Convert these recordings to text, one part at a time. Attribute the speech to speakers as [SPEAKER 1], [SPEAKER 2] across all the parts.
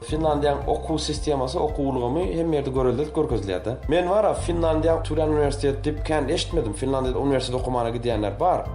[SPEAKER 1] Finlandiýaň okuw sistemasy, okuw ulgamy hemme ýerde görelde görkezilýärde. Men bara Finlandiýaň türen uniwersiteti diýip kän eşitmedim. Finlandiýada uniwersitet okamana gidýänler bar.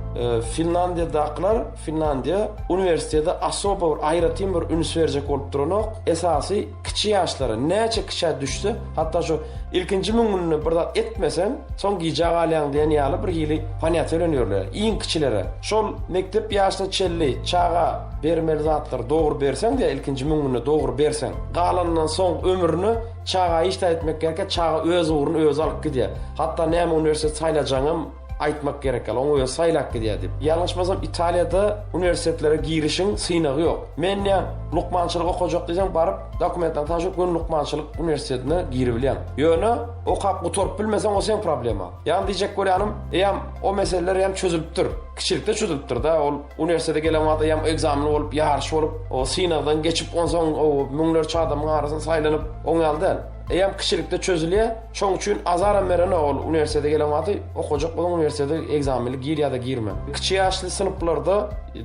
[SPEAKER 1] Finlandiýadakylar Finlandiýa uniwersitete asoba bir aýratyn bir üns berjek bolup duranok. Esasy kiçi ýaşlara näçe kiçä düşse Hatda şu ilkinji müň günde bir zat etmeseň, soň gijä galýaň diýen ýaly birhili ponýatiýa bilen ýörler. Iň kiçilere, şol mekdep ýaşyna çenli çaga bermeli zatlary dogry berseň diýýär, ilkinji müň günde dogry berseň, galanyndan soň ömrüne çaga hiç zat etmek gerek ýok, çaga öz ugruny özi alyp gidýär. Hatda näme uniwersitet saýlajagyňam. Aýtmak gerek ýaly, oňa özi saýlap gidýär diýip. Ýalňyşmasam, Italiýada uniwersitetlere girişiň synagy ýok. Men näm, lukmançylyk okajak diýseň, baryp, dokumentleriňi tabşyryp, göni lukmançylyk uniwersitetine giribilýäň. Ýöne, okap gutaryp bilmeseň, o seň problemaň. Ýagny diýjek bolýanym, eýýäm o meseleler eýýäm çözülipdir. Kiçilikde çözülipdir-dä, ol uniwersitete gelen wagt eýýäm ekzamen bolup, ýaryş bolup, o synagdan geçip, onsoň o müňlerçe adamyň arasynda saýlanyp, oň ýaly däl. Eýýäm kiçilikde çözülýär. Şoň üçin azaram berenok ol uniwersitete gelen wagty okajak bolan uniwersitete egzamini gir ýa-da girme. Kiçi ýaşly synplarda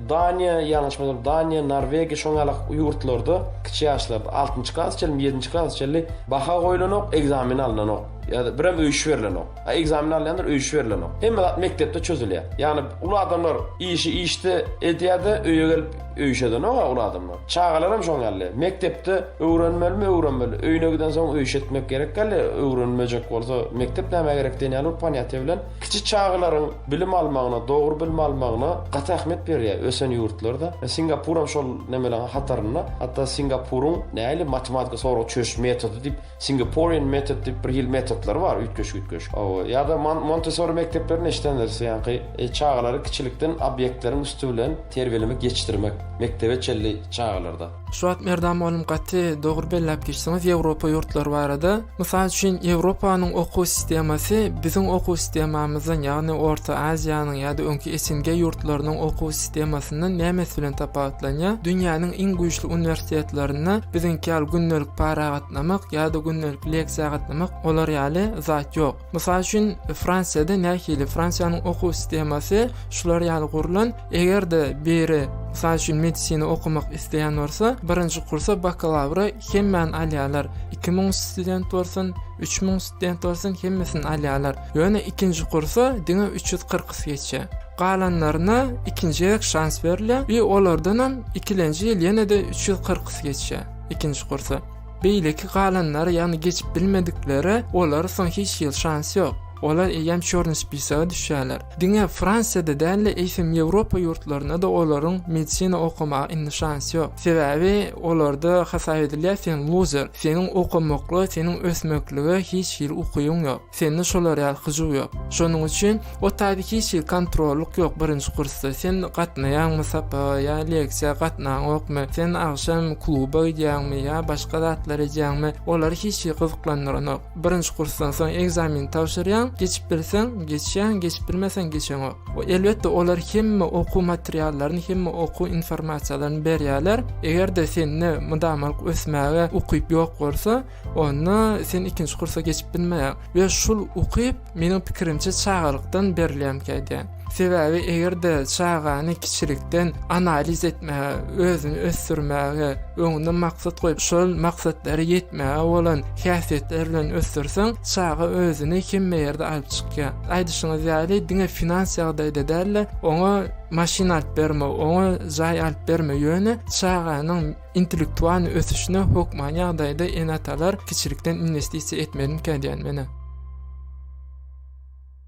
[SPEAKER 1] Daniýa, ýalňyşmasam Daniýa, Norwegiýa şoň ýaly ýurtlarda kiçi ýaşlarda altynjy klasa çenli, ýedinji klasa çenli baha goýlanok, egzamini alnanok. Ýa-da birem öýüşi berlenok. A ekzameni alýanlar öý işi berilenok. Hemme zat mekdepde çözülýär. Ýagny uly adamlar işi işde edýärde öýe gelip öý işi edenok-a uly adamlar. Çagalaram şoň ýaly. Mekdepde öwrenmelimi öwrenmeli. Öýüne gidensoň öý işi etmek gerek däl-le. Öwrenmejek bolsa mekdep nämä gerek diýen ýaly bir ponýatiýa bilen kiçi çagalaryň bilim almagyna, dogry bilim almagyna gaty ähmiýet berýär ösen ýurtlarda. Singapuram şol nemeleň hatarynda. Hatda Singapuryň nähili matematika sorag çözüş metody diýip Singaporean method diýip bir hil metodlar bar, üýtgeşik-üýtgeşik. O ýa-da Montessori mekdeplerini eşidendiris, ýagny çagalary kiçilikden obýektleriň üsti bilen terbiýelemek, ýetişdirmek, mekdebe çenli çagalarda. Şu wagt Merdan mugallym gaty dogry belläp geçdiňiz Ýewropa ýurtlary barada. Mysal üçin Ýewropanyň okuw sistemasy biziň okuw sistemamyzdan ýagny Orta Aziýanyň ýa-da öňki SNG ýurtlarynyň okuw sistemasy. arasynda nemes bilen tapawutlanýar? Dünýäniň iň güýçli uniwersitetlerinde biziňki ýaly gündelik para gatnamak ýa-da gündelik leksiýa gatnamak olar ýaly zat ýok. Mysal üçin, Fransiýada nähili? Fransiýanyň okuw sistemasy şular ýaly gurlan, eger-de biri, mysal üçin, medisina okamak isleýän bolsa, birinji kursa bakalawra hemmäni alýarlar. Iki müň student bolsun, üç müň student bolsun, hemmesini alýarlar. Ýöne ikinji kursa diňe üç ýüz kyrkysy geçýär. Galanlaryna ikinji gezek şans berilýär we olardanam ikilenji ýyl ýene-de üç ýüz kyrkysy geçýär ikinji kursa. Beýleki galanlary, ýagny geçip bilmedikleri, olara soň hiç ýyl şans ýok. Olar eýýäm çorny spisaga düşýärler. Diňe Fransiýada däl-de, eýsem Ýewropa ýurtlarynda-da olaryň medisina okamaga indi şans ýok. Sebäbi olarda hasap edilýär, sen luzer, seniň okamaklyga, seniň ösmeklige hiç hili ukybyň ýok. Sende şolar ýaly hyjuw ýok. Şonuň üçin o taýda hiç hili kontrollyk ýok birinji kursda. Sen gatnaýaňmy sapaga ýa leksiýa gatnaňokmy, sen agşam kluba gidýäňmi ýa başga zatlar edýäňmi, olary hiç hili gyzyklandyranok. Birinji kursdan soň ekzameni tabşyrýaň, geçip bilseň, geçýäň, geçip bilmeseň geçeňok. Elbetde olar hemme okuw materiallaryny, hemme okuw informasiýalaryny berýärler. Eger-de sende mydamalyk ösmäge ukyp ýok bolsa, Onda sen ikinji kursa geçip bilmeýär. Ve şul ukyp, meniň pikirimçe çagalykdan berilýän käýdi. Sebäbi eger-de çagany kiçilikden analiz etmäge, özüni ösdürmäge, öňüne maksat goýup, şol maksatlara ýetmäge bolan häsiýetler bilen ösdürseň, çaga özüni hemme ýerde alyp çykýar. Aýdyşyňyz ýaly, diňe finans ýagdaýda däl-de, oňa maşyn alyp berme, oňa jaý alyp berme, ýöne çaganyň intellektual ösüşine hökman ýagdaýda ene-atalar kiçilikden inwestisiýa etmelikä diýýän menä.